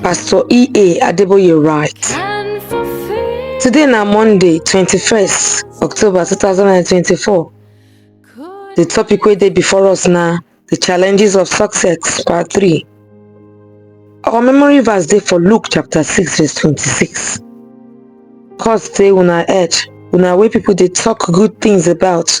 Pastor E.A. Adeboye writes, Today na Monday, 21st October 2024. The topic wey dey before us na The Challenges of Success, Part 3. Our memory verse dey for Luke chapter 6 verse 26. Cause say una edge, una wey people dey talk good things about,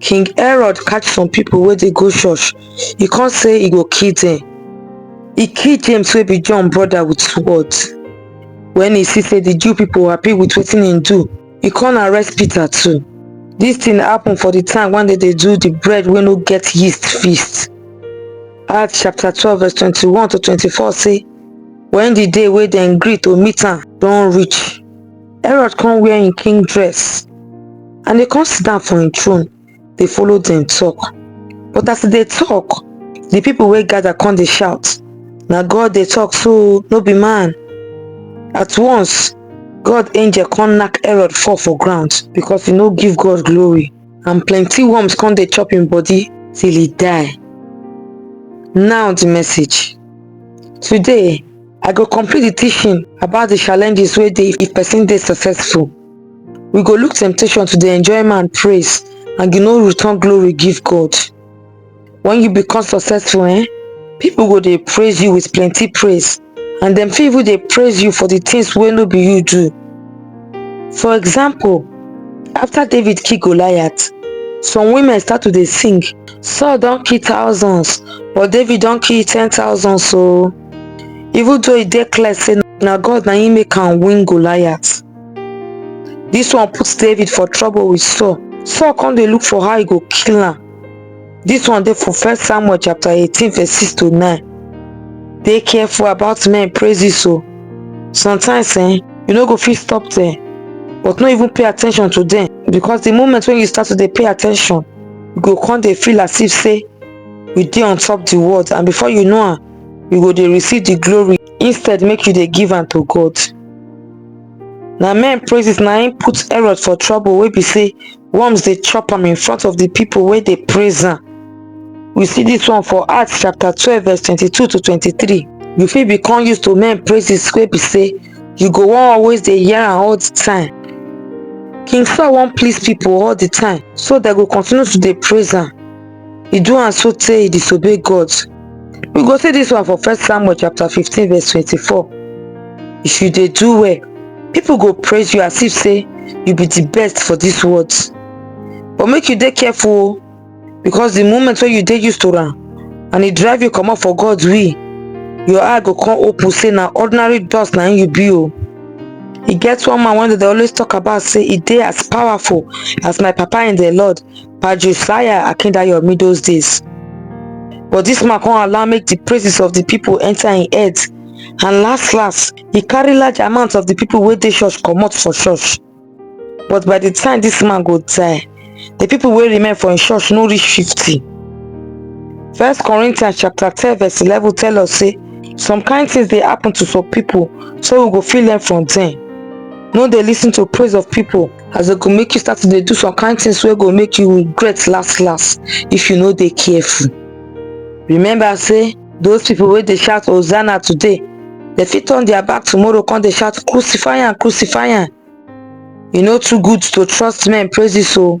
King Herod catch some people where they go church, he can't say he go kill them. He killed James wey be John brother with sword. When he see say the Jew people happy with wetin he do, he can't arrest Peter too. This thing happened for the time when they, they do the bread when no get yeast feast. Acts chapter 12 verse 21 to 24 say, When the day where they agreed to meet am don't reach, herod come wear im king dress and e come sit down for im throne dey follow dem talk but as e dey talk the people wey gather come dey shout na god dey talk so no be man at once god angel come knack herod fall for ground because he no give god glory and plenty worms come dey chop im body till e die now the message today I go complete the teaching about the challenges where they if person is successful. We go look temptation to the enjoyment and praise and you know return glory give God. When you become successful, eh, people go they praise you with plenty praise and then people they praise you for the things wey no be you do. For example, after David kill Goliath, some women start to they sing, Saul don't kill thousands, but David don't kill ten thousand so. even though e dey clear say na God na him make am win Goliath. This one put David for trouble with Saul. Saul come dey look for how he go kill am. This one dey for first Samuel chapter 18 verse 6 to 9. Dey careful about men praises so. Oh. Sometimes eh, you no go fit stop there but no even pay attention to them because the moment when you start to dey pay attention, you go come dey feel as if say you dey on top the world and before you know am you go dey receive the glory instead make you dey give am to god na men praises na im put herod for trouble wey be say worms dey chop am in front of the people wey dey praise am we see this one for acts chapter twelve verse twenty-two to twenty-three you fit become used to men praises wey be say you go wan always dey hear am all the time king saul wan please people all the time so dem go continue to dey praise am e do am so tey e disobey God. We go see this one for first Samuel chapter 15 verse 24. If you dey do well, people go praise you as if say you be the best for this world. But make you dey careful o, because the moment wey you dey used to am and e drive you comot for God will, your eye go come open say na ordinary dust na im you be o. E get one man wey dem dey always talk about say e dey as powerful as my papa in the Lord Pa Josiah Akindayomi those days. But this man come allow make the praises of the people enter in head and last last he carry large amount of the people wey dey church comot for church but by the time this man go die the people wey remain for him church no reach fifty. first corinthians chapter ten verse eleven tell us say some kind things dey happen to some people so we go fit learn from them no dey lis ten to praise of people as e go make you start to dey do some kind things wey go make you regret last last if you no dey careful remember say those people wey dey shout hosanna today dem fit turn their back tomorrow come dey shout crucify am crucify am e no too good to trust men praises o